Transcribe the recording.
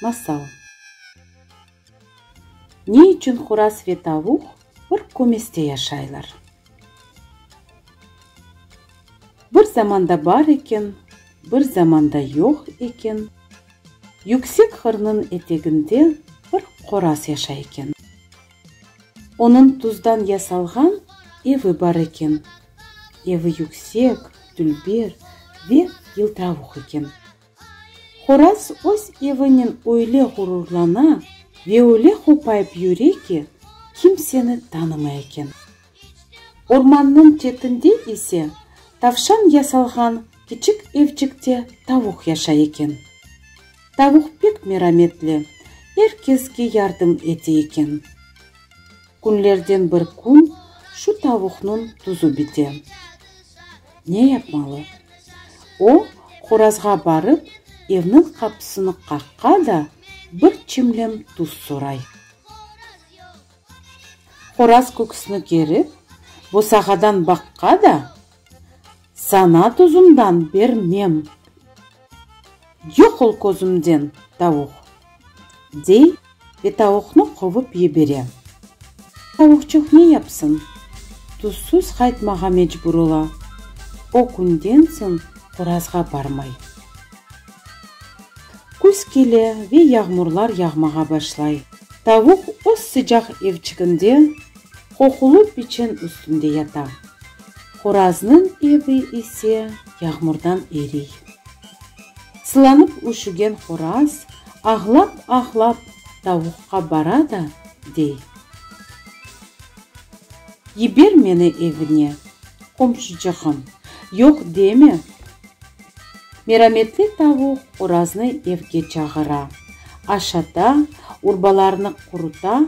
Masal Ne içün horaz ve tavuq bir kömeste yaşaylar? Bir zamanda bar eken, bir zamanda yoq eken, yüksek hırnıñ eteginde bir qoraz yaşay eken. Onıñ tuzdan yasalğan evi bar eken. Evi yüksek, dülber ve yıltıravuq eken. Horaz öz evinen öyle ğururlana ve öyle hopayıp yüre ki, kimseni tanımay eken. Ormannıñ çetinde ise tavşan yasalğan kiçik evcikte tavuq yaşay eken. Tavuq pek merametli, er keske yardım ete eken. Künlerden bir kün şu tavuqnıñ tuzu bite. Ne yapmalı? O, qorazğa barıp, evniñ qapısını qaqqa da, bir çimlem tuz soray. Qoraz köküsini kerip, bosağadan baqqa da, Sana tuzumdan bermem. Yoq ol közümden, tavuq! dey ve tavuqnı quvıp yibere. Tavuqçıq ne yapsın? Tuzsuz qaytmağa mecbur ola. O künden soñ qorazğa barmay. Küz kele ve yağmurlar yağmağa başlay. Tavuq öz sıcaq evçiginde Qoqulı peçen üstünde yata. Horaznıñ evi ise yağmurdan eriy. Sılanıp üşügen horaz ağlap-ağlap tavuqqa bara da dey, Yiber meni evine, qomşucığım, yoq deme! Merametli tavuq horaznı evge çağıra, aşata, urbalarnı quruta,